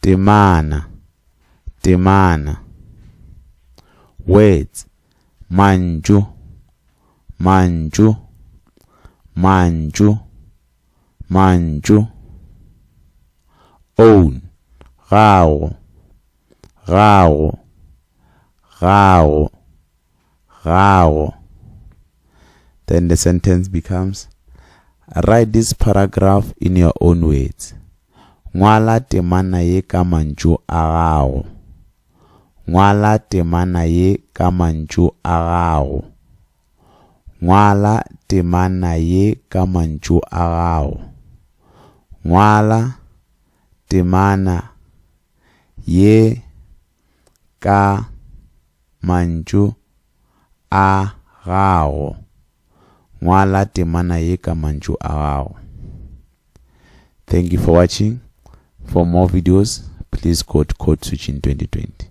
Temana, temana. Words, mantšu, mantšu, mantšu, mantšu. Own, gago, gago, gago. gago. Then the sentence becomes, Write this paragraph in your own words. Ngwala temana ye ka mantšu a gago. Ngwala temana ye ka mantšu a gago. Ngwala temana ye ka mantšu a gago. Ngwala temana ye ka mantšu a gago, ngwala temana ye ka mantšu a gago. Thank you for watching. For more videos, please go to Code Switching 2020.